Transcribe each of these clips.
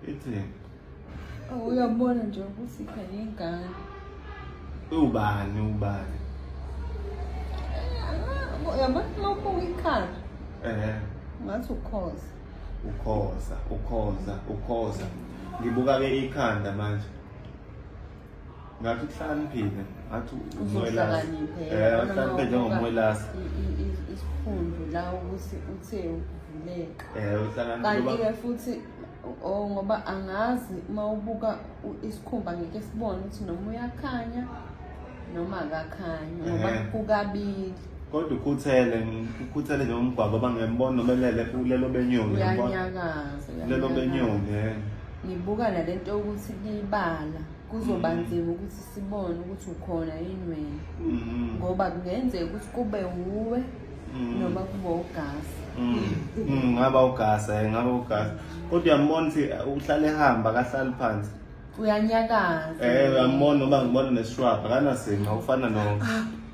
Ithini? Oh, uyabona nje ukuthi phela ingane. Ubani ubani? Uyabona lokho uyikhala. Eh. Ngathi ukhoza. Ukhoza, ukhoza, ukhoza. Ngibuka ke ikhanda manje. ngathi uhlaniphile ngathi umwelasi eh uhlaniphile njengomwelasi isikhundu la ukuthi uthe ukuvuleka eh uhlaniphile kanti ke futhi oh ngoba angazi uma ubuka isikhumba ngeke sibone ukuthi noma uyakhanya noma akakhanya ngoba kukabili Kodwa ukhuthele, ukhuthele nje umgwaqo bangembona noma elele kulelo benyoni. Uyanyakaza. Lelo benyoni. Eh. Ngibuka nalento ukuthi libala kuzoba mm. nzima ukuthi sibone ukuthi ukhona yini wena. Mm. Ngoba kungenzeka ukuthi kube wuwe mm. noma kube ugasi. Ngaba ugasi, eh, ngaba ugasi. Kodwa uyambona ukuthi eh, uhlale ehamba akahlali phansi. Uyanyakaza. Eh uyambona noma ngibona neshrub akanasinga ufana no ah,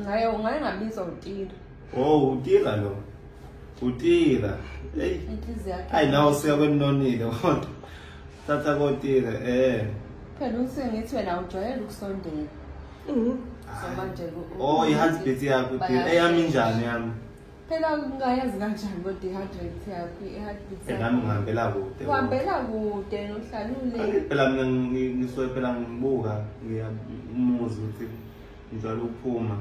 ngaye ngaye ngabizwa utira oh utira lo utira hey inhliziyo yakhe ayi nawo siya kwenonile kodwa thatha kotira eh phela uthi ngithi wena ujwayele ukusondela mhm so manje oh i heartbeat yakho utira eyami njani yami phela ungayazi kanjani kodwa i-heart rate yakho i-heart beat eh, nami ngihambela kude uhambela kude nohlalule phela mina ngisuke phela ngibuka ngiyamuzi ukuthi njalo ukuphuma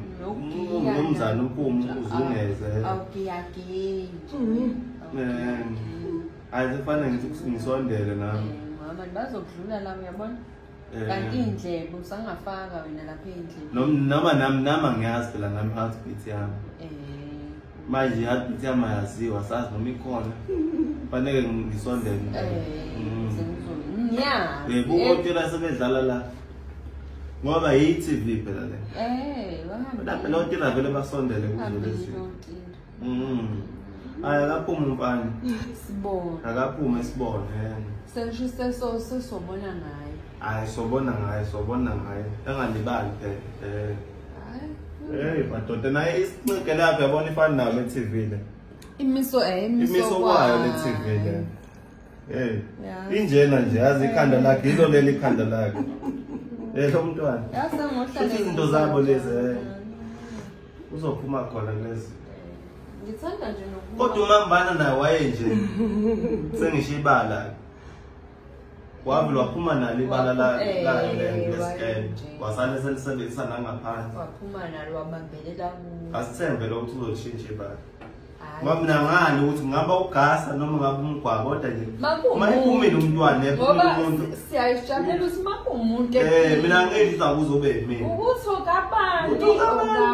nomzana uphume uzungeze awugiyagintsha ayizifane ngithi ngisondele nami mama bazokudlula la uyabona Eh. kanti iy'ndlebe usangafaka wena lapha ey'ndlebe Nom- noma nami nami angiyazi phela nami heartbeat yami um manje i-heartbeat yami ayaziwa sazi noma ikhona faneke ngi- ngisondele um Mm. sengizoyazi Eh, kuotela sebedlala la ngoba yi-tv phela le um lapha lotila vele basondele kuzo lezi Mm. Aya akaphume umfana. Sibona. Akaphume sibona yena. Sengisho seso sesobona ngaye. Hayi sobona ngaye sobona ngaye. Engalibali phela. Eh. Hayi. Hey madoda naye isincike lapha yabona ifana nayo le TV le. Imiso eh imiso imiso kwayo le TV le. Hey. Injena nje yazi ikhanda lakhe yilo leli ikhanda lakhe. Eh lo mntwana. Yase ngohlala. Izinto zabo lezi. Eh. uzophuma khona kulezi ngithanda nje nokuba kodwa umambana naye waye nje sengisho ibala wavele waphuma nalo ibala layo eh, lescan wasale selisebenzisa nangaphandle waphuma nalo wabambelela kuwo asithembe lokuthi uzoshintsha ibala Mamina ngani ukuthi ngaba ugasa noma ngaba umgwabo kodwa nje uma iphumile umntwana ephumile umuntu siyayijabulela ukuthi maka umuntu eh mina ngedla kuzobe mina ukuthi okabani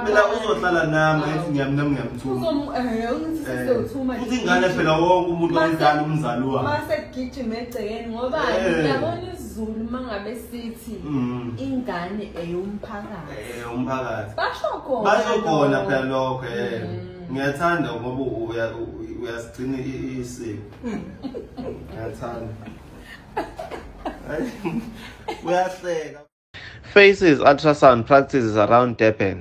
mina uzohlala nami ethi ngiyamnami ngiyamthuma uzomu eh ungithi eh, sesewuthuma uthi ingane phela wonke umuntu oyizalo umzali wakhe mase gijima egcekeni ngoba eh. ngiyabona izulu mangabe sithi mm. ingane eyomphakathi eyomphakathi eh, basho khona basho khona phela lokho eh mm. ngiyathanda ngoba uyasigcina isiko ngiyathanda uyahleka faces ultrasound practices around durban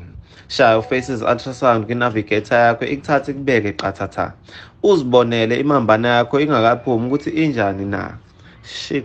shaya ufaces ultrasound kwinavigator yakho ikuthathe kubeke qathatha uzibonele imambana yakho ingakaphumi ukuthi injani na shix